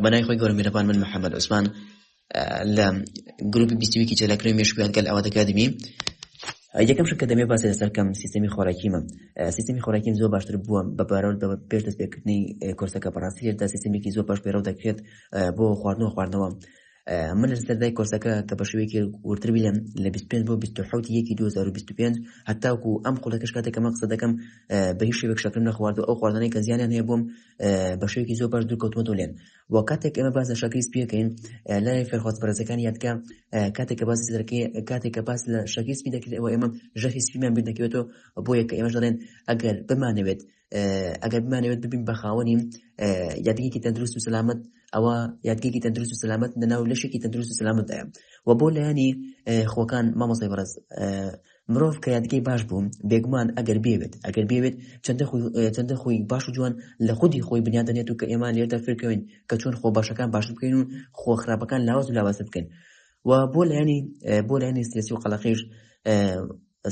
بەنای خۆی گەورە میرەبان من محەممەد عوسمان لە گروپی بیستویکی چێلاکرۆی مێشکویان گەل ئەوە دەکاتمی یەکەم شکە دەمێ باسی لەسەرکەم سیستمی خۆراکیمە سیستمی خۆراکیم زۆر باشتر بووە بە بارەوە بە پێش دەست پێکردنی کۆرسەکە بەڕاستی لێردا سیستمێکی زۆر باش پێرەو دەکرێت بۆ خواردنەوە خواردنەوە من لە سەردای کۆرسەکە کە بە شوێکی ورتر بیلم لە 25 بۆ 1970 یەکی 2025 هەتاوکو ئەم خولەکەش کاتێکە مە قسە دەکەم بە هیچ شێوێک شەکرم نەخوارد و ئەو خواردنەی کە زیانیان هەیە بووم بە شێوکی زۆر باش دوورکەوتوەتۆ لێن و کاتێک ئەمە باز لە شەکری سپیەکەین لە فێرخواز پەرزەکان یادکە کاتێکە باز سەرەکەی کاتێکە باز لە شەکی سپی دەکرێت ئەوە ئێمە ژەهی سپیمان بیر دەکەوێتەوە بۆ یەکە ئێمەش دەڵێن ئەگەر بمانەوێت ئەگەر بمانەوێت ببین بە خاوەنیم یادگێکی تەندروست و سەلامت ئەوە یادگێکی تەندروست و سەلامت لەناو لەشێکی تەندروست و سەلامتدایە و بۆ لایەنی خۆکان مامۆسای بەڕز مرۆڤ کە یادگەی باش بوو، بێگومان ئەگەر بیەوێت، ئەگەر بیەوێت چەندە خۆی باش و جوان لە خودی خۆی بنیات دەنێت و کە ئێمە لێردا فێرکەوین کە چۆن خۆ باشەکان باشتر بکەین و خۆ خراپەکان لاواز و لاوازتر بکەین و بۆ لایەنی بۆ لایەنی سیاسی و قەڵەقیش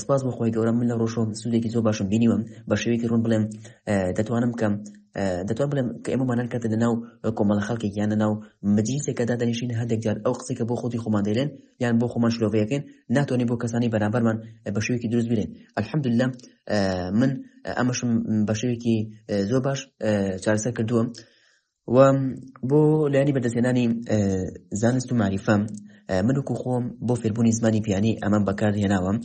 سپاس بۆ خۆی گەورە من لە ڕۆژۆ سوودێکی زۆر باشم بینیوە بە شێوەیەکی ڕوون بڵێم دەتوانم کەم دەتوان بڵێم کە ئێمە مانان کردە لە ناو کۆمەڵە خەڵکێک یان لە ناو مجلیسێکەدا دەنیشین هەندێک جار ئەو قسێکە بۆ خۆتی خۆمان دەێن یان بۆ خۆمان شلۆڤەیەکەین ناتۆنی بۆ کەسانی بەرامبەرمان بە شێوێکی دروست بێن الحمدللا من ئەمەشم بە شێوێکی زۆر باش چارەسەر کردووە و بۆ لایانی بەدەستێنانی زانست و معریفە من وکو خۆم بۆ فێربوونی زمانی پیانی ئەمەم بەکار هێناوەم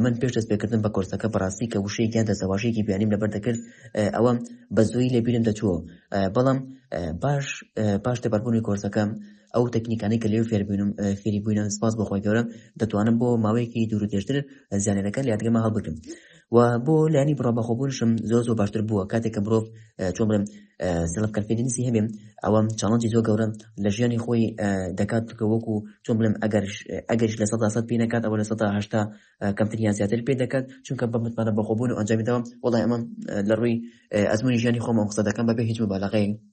من پێش دەست پێکردن بە کۆرسەکە بەڕاستی کە وشەیەکیان دەسەواشێکی بیانیم لەبەر دەکرد ئەوە بە زۆی لەبیرم دەچووە بەڵام باش پاش تێپەربوونی کۆرسەکەم ئەو تەکنیکانەی کە لێو فێربووینم فێری بووینە سپاس بۆخۆی گەورە دەتوانم بۆ ماوەیەکی دوور و درێژتر زیانەکە لە یادگەمە هەڵبگرم و بۆ لانی بڕۆ بەخۆبوونشم زۆر زۆر باشتر بووە کاتێک کە مرۆڤ چۆن بڵێم سلف کەفێنسی هەبێم ئەوەم چاڵنجی زۆر گەورە لە ژیانی خۆی دەکات کە وەکو چۆن بڵێم ئەگەر ئەگەرش لە سەدا سەد پێ نکات ئەوە لە سەدا هشتا کەمتریان زیاتر پێ دەکات چونکە بە متمانە بەخۆبوون و ئەنجامیداوە وڵای ئەمە لە ڕووی ئەزمموی ژیانی خۆمە قسە دەکەم بەبێ هیچ مبالغەیە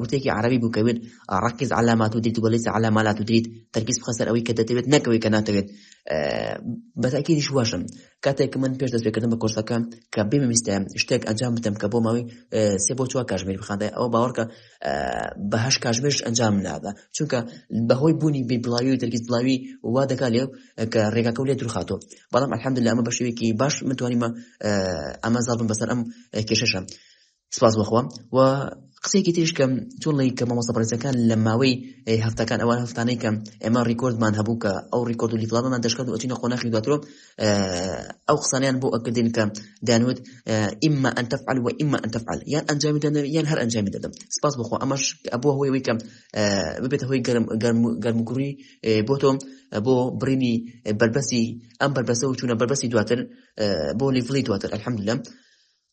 وتێکی عربی بوو کە وێت ڕکز علامات و دیت وەلیس علامالات و دیت تەرکیز بخە سەر ئەوەی کە دەتەوێت نەکەوەی کە ناتەوێت بەتاکیدیش واشم کاتێک من پێش دەستێکردن بە کۆرسەکە کە بمویستە شتێک ئەنجام بدەم کە بۆ ماوەی سێ بۆ چوار کاژمێر بخاندای ئەوە باوەڕکە بەهش کاژمێرش ئەنجام نادا چونکە بەهۆی بوونی بێ بڵاوی و تەرکیز بڵاوی وا دەکات لێ کە ڕێگاکە لێ درخاتۆ بەڵام ئەحمد لە ئەمە بەشێوێکی باش متوانیمە ئەمە زاڵبم بەسەر ئەم کێشەشە سپاس بۆ خوا و قسەیەکی تریش کەم چۆن ڵی کە مامۆستا بەڕێزەکان لە ماوەی هەفتەکان ئەوان هەفتانەی کەم ئێمە ڕیکۆردمان هەبوو کە ئەو ڕیکۆرد و لیفڵامەمان دەشکات و ئەچینە قۆناخی دواترۆ ئەو قسانیان بۆ ئەکردین کە دانوت ئیمە ئەن تەفعل و ئیمە ئەن تەفعل یان ئەنجامی دەن یان هەر ئەنجامی دەدەم سپاس بخۆ ئەمەش ئەبووە هۆی وی کەم ببێتە هۆی گەرم گەرم گەرمگوڕی بۆ تۆم بۆ بڕینی بەربەسی ئەم بەربەسە و چوونە بەربەسی دواتر بۆ لیڤڵی دواتر ئەلحەمدلم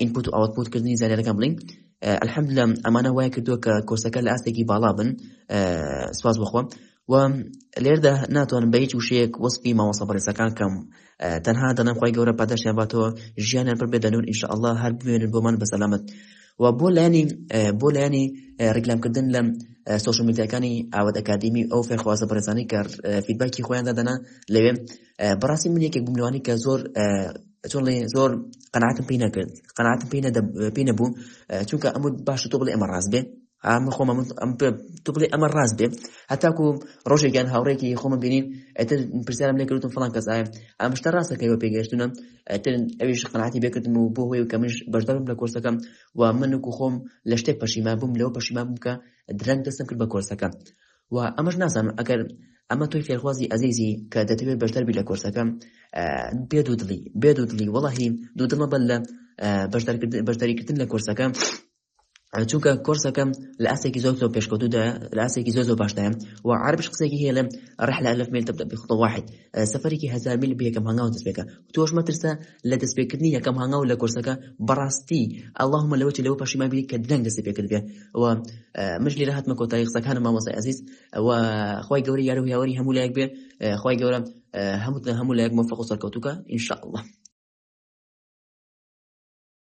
ئینپوت و ئاوتپوت کردنی زانیارەکان بڵین الحمد لە ئەمانە وای کردووە کە کۆرسەکە لە ئاستێکی باڵا بن سپاس بخۆ و لێردا ناتوانم بە هیچ وشەیەک وەسپی ماوەسە بەڕێزەکان کەم تەنها دەنم خی گەورە پاداشیان باتەوە ژیانیان پر بێدە نور ئینشاء الله هەر بمێنن بۆمان بە سەلامت و بۆ لایانی بۆ لایانی ڕیکلامکردن لەم سوۆشمیتەکانی ئاوت ئەکادمی ئەو فێرخوازە بەرزانانی کار فیدباکی خۆیان دادەنا لەوێ بەڕاستی من یەکێک بووم لەوانی کە زۆر چۆڵێ زۆر قەناتم پێی نەکرد قەناتم پێی پێی نەبوو چونکە ئەم باش تۆ بڵێ ئەمە ڕاست بێ ئەمە خۆمە ئەم تو بڵێ ئەمە ڕاست بێ هەتاکو ڕۆژێکیان هاوڕێکی خۆمە بینین ئەتر پرسیارم لێکردم فڵان کەس ئاە ئەم شتە ڕاستەکەەوە پێگەشتونە ئەتر ئەویش قەناتی بێکردم و بۆ هۆی و کەمش بەشدارم لە کۆرسەکەم و منکو خۆم لە شتێک پەشیما بووم لەو پەشیما بووکە درەنگ دەستم کرد بە کۆرسەکە وە ئەمەش نازانم ئەگەر ئەمە تۆی فێرخوازی ئەزیزی کە دەتەوێت بەشدەر بی لە کۆرسەکەم بێ دوودڵی بێ دوودڵی وەڵی دوودڵمە بەر لە بەشداریکردن لە کۆرسەکە چونکە کۆرسەکەم لە ئاستێکی زۆر زۆر پێشکەوتودا لە ئاستێکی زۆر زۆر باشداە و عربش قسێکی هەیە لە ڕحلا لە میل تبدە بخڵ واحد سەفەرێکی هزار میل بەکەم هەنگاو دەستپێکە تۆش مەترسە لە دەستپێکردنی یەکەم هەنگاو لە کۆرسەکە بەڕاستی اللهمە لەوەی لەو پەشیما بی کە دەنگ دەست پێکرد بێ و مش لێرە هاتمە کۆتایی قسەکانم مامۆسای ئەزیز و خی گەوری یارو یاوەری هەموو لایەک بێ خی گەورە هەموو هەموو لایەک مۆفق و سەرکەوتوکە انشاءله